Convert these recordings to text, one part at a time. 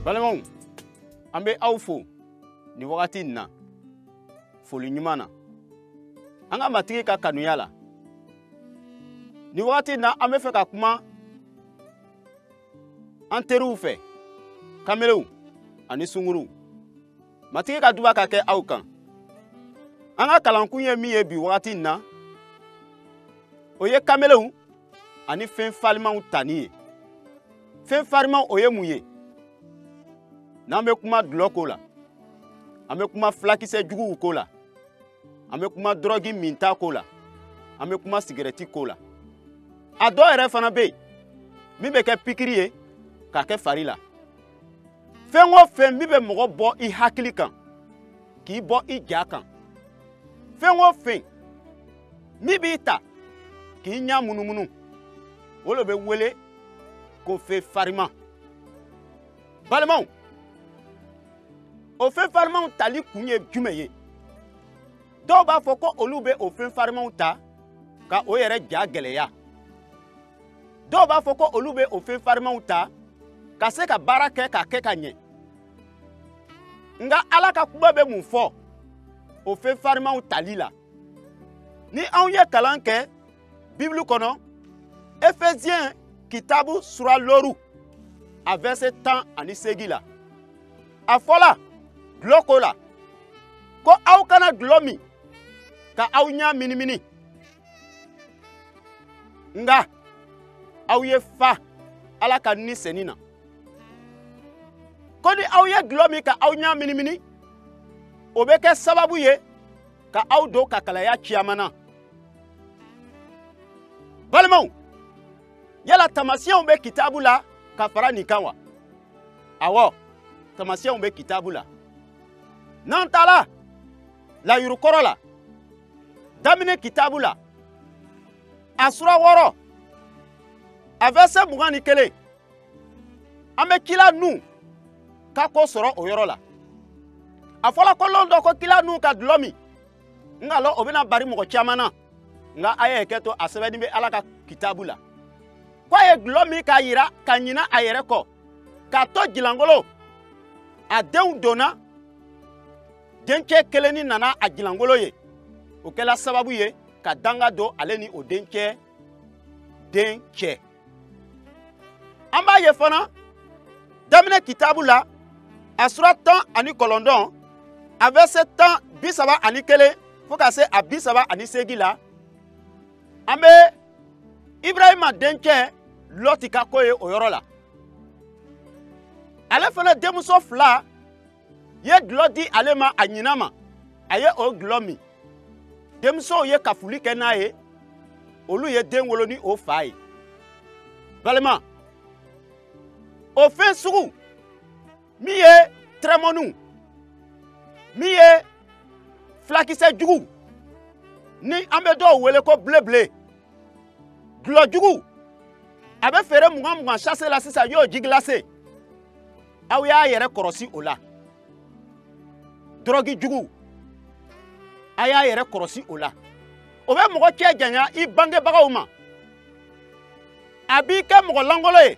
balimaw an bɛ aw fo nin wagati in na foli ɲuman na an ka matigi ka kanuya la nin wagati in na an bɛ fɛ ka kuma an teriw fɛ kamelenw ani sunguruw matigi ka duba ka kɛ aw kan an ka kalankun ye min ye bi wagati in na o ye kamelenw ani fɛn farimanw tani ye fɛn farimanw o ye mun ye n'an bɛ kuma dulɔ ko la an bɛ kuma filakisɛ juguw ko la an bɛ kuma dɔrɔgi minta ko la an bɛ kuma sigɛrɛti ko la a dɔw yɛrɛ fana bɛ yen min bɛ kɛ pikiri ye k'a kɛ fari la fɛn o fɛn min bɛ mɔgɔ bɔ i hakili kan k'i bɔ i ja kan fɛn o fɛn min b'i ta k'i ɲa munumunu o de bɛ wele ko fɛn fariman balimaw o fɛn farimanw tali kun ye jumɛn ye dɔw b'a fɔ ko olu bɛ o fɛn farimanw ta ka o yɛrɛ ja gɛlɛya dɔw b'a fɔ ko olu bɛ o fɛn farimanw ta ka se ka baara kɛ k'a kɛ ka ɲɛ nka ala ka kuma bɛ mun fɔ o fɛn farimanw tali la ni anw ye kalan kɛ bibulu kɔnɔ efeziyɛn kitabu sura looru a vɛrse tan ani seegin la a fɔla dulɔ ko la ko aw kana dulɔ min ka aw ɲa minimini nka aw ye fa ala ka ni senin na ko ni aw ye dulɔ min ka aw ɲa minimini o bɛ kɛ sababu ye ka aw don kakalaya ciyaman na balimaw yala taamasiyɛnw bɛ kitabu la ka fara nin kan wa awɔ taamasiyɛnw bɛ kitabu la n'an taala layurukɔrɔ la daminɛ kitabu la a sura wɔɔrɔ a vɛrse mugan ni kelen an bɛ kila nuhu ka ko sɔrɔ o yɔrɔ la a fɔla ko lon dɔ ko kila nuhu ka dulɔ min n k'a lɔn o bɛna bari mɔgɔ caman na nka a ye hakɛ to a sɛbɛnnin bɛ ala ka kitabu la ko a ye dulɔ min k'a yira ka ɲina a yɛrɛ kɔ k'a to jilangolo a denw donna dencɛ kelenni nana a jilangolo ye o kɛla sababu ye ka danga don ale ni o dencɛ den cɛ an b'a ye fana daminɛ kitabu la a sura tan ani kɔlɔndɔn a vɛrise tan bi saba ani kelen fo ka se a bi saba ani seegi la an bɛ ibrahima dencɛ lɔti ka ko ye o yɔrɔ la ale fana denmuso fila ye dulɔ di ale ma a ɲinan ma a ye o dulɔ min denmusow ye kafuli kɛ n'a ye olu ye den wolo ni o fa ye balima o fɛn sugu min ye tɛrɛmɔniw min ye filakisɛ jugu ni an bɛ dɔw wele ko bilebile dulɔ jugu a bɛ feere mugan mugan sase la sisan yo ji gilase aw y'a yɛrɛ kɔrɔsi o la dɔrɔgi jugu a y'a yɛrɛ kɔrɔsi o la o bɛ mɔgɔ cɛ janya i bangebagaw ma a b'i kɛ mɔgɔ langolo ye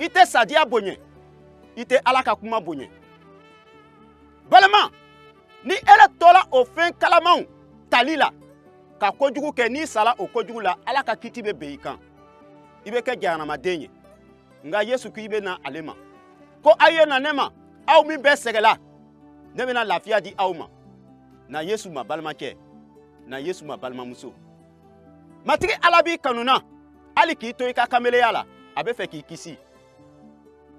i tɛ sadiya bonya i tɛ ala ka kuma bonya balima ni ele tola o fɛn kalamanw tali la ka kojugu kɛ n'i sala o kojugu la ala ka kiti bɛ ben i kan i bɛ kɛ jahanamaden ye nka yesu k'i bɛ na ale ma ko a ye na ne ma aw min bɛɛ sɛgɛla ne bɛna lafiya di aw ma na yesu ma balimacɛ na yesu ma balimamuso matigi ala b'i kanu na hali k'i to i ka kameleya la a bɛ fɛ k'i kisi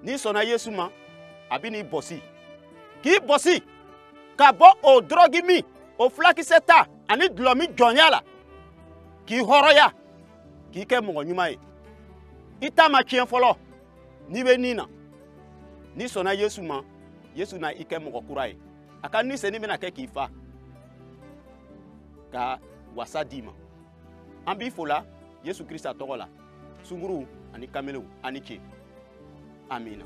n'i sɔnna yesu ma a bɛn'i bɔsi k'i bɔsi ka bɔ o dɔrɔgi min o fulakisɛ ta ani dulɔmin jɔnya la k'i hɔrɔnya k'i kɛ mɔgɔ ɲuman ye i ta ma tiɲɛ fɔlɔ n'i bɛ ni na n'i sɔnna yesu ma yesu na i kɛ mɔgɔ kura ye a ka ni senu bɛna kɛ k'i fa ka wasa d'i ma an b'i fo la yesu krista tɔgɔ la sunguruw ani kamelew a ni ce amina